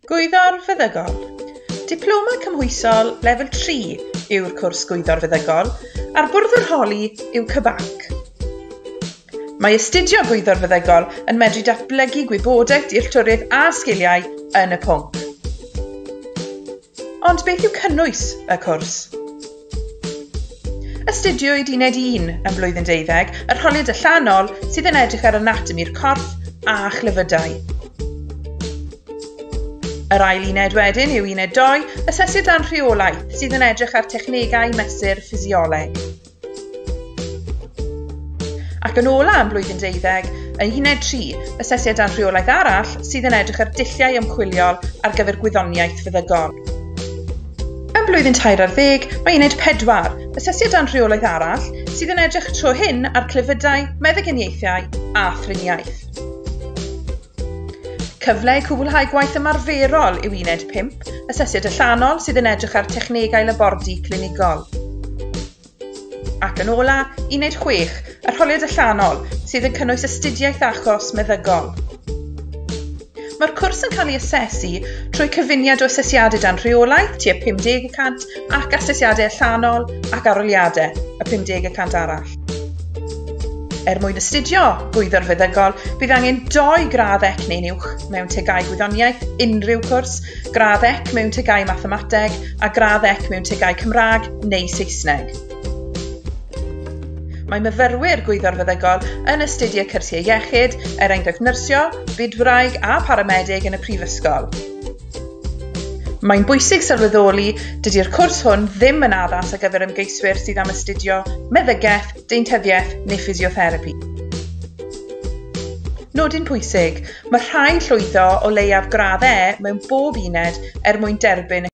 Gwyddor Feddygol Diploma Cymhwysol Lefel 3 yw'r cwrs Gwyddor Feddygol a'r bwrdd yr holi yw CBAC. Mae astudio Gwyddor Feddygol yn medru datblygu gwybodaeth dealltwriaeth a sgiliau yn y pwnc. Ond beth yw cynnwys y cwrs? Astudiwyd uned 1 ym mlwyddyn deuddeg, yr holiad allanol sydd yn edrych ar anatomi'r corff a chlefydau. Yr ail uned wedyn yw uned 2, asesu dan rheolaeth, sydd yn edrych ar technegau mesur ffisioleg. Ac yn ola am blwyddyn deuddeg, yn uned 3, asesiad ar rheolaeth arall sydd yn edrych ar dulliau ymchwiliol ar gyfer gwyddoniaeth feddygon. Ym mlwyddyn tair ar ddeg, mae uned 4, asesiad ar rheolaeth arall, sydd yn edrych tro hyn ar clefydau, meddyginiaethau a thriniaeth. Cyfle i cwblhau gwaith ymarferol yw uned 5, asesiad allanol sydd yn edrych ar technegau labordy clinigol. Ac yn ola, uned 6, arholiad allanol sydd yn cynnwys astudiaeth achos meddygol. Mae'r cwrs yn cael ei asesu trwy cyfuniad o asesiadau dan rheolaeth, tua 50% ac asesiadau allanol ac aroliadau, y 50% arall. Er mwyn astudio gwyddor feddygol, bydd angen doi gradd ec neu'n uwch mewn tegau gwyddoniaeth, unrhyw cwrs, gradd ec mewn tegau mathemateg a gradd ec mewn tegau Cymraeg neu Saesneg. Mae myfyrwyr gwyddor feddygol yn astudio cyrsiau iechyd, er enghraifft nyrsio, bydwraig a paramedig yn y prifysgol. Mae'n bwysig sylweddoli, dydy'r cwrs hwn ddim yn addas ar gyfer ymgeiswyr sydd am astudio meddygaeth, deintyddiaeth neu ffisiotherapi. Nodyn pwysig, mae rhaid llwyddo o leiaf gradd E mewn bob uned er mwyn derbyn y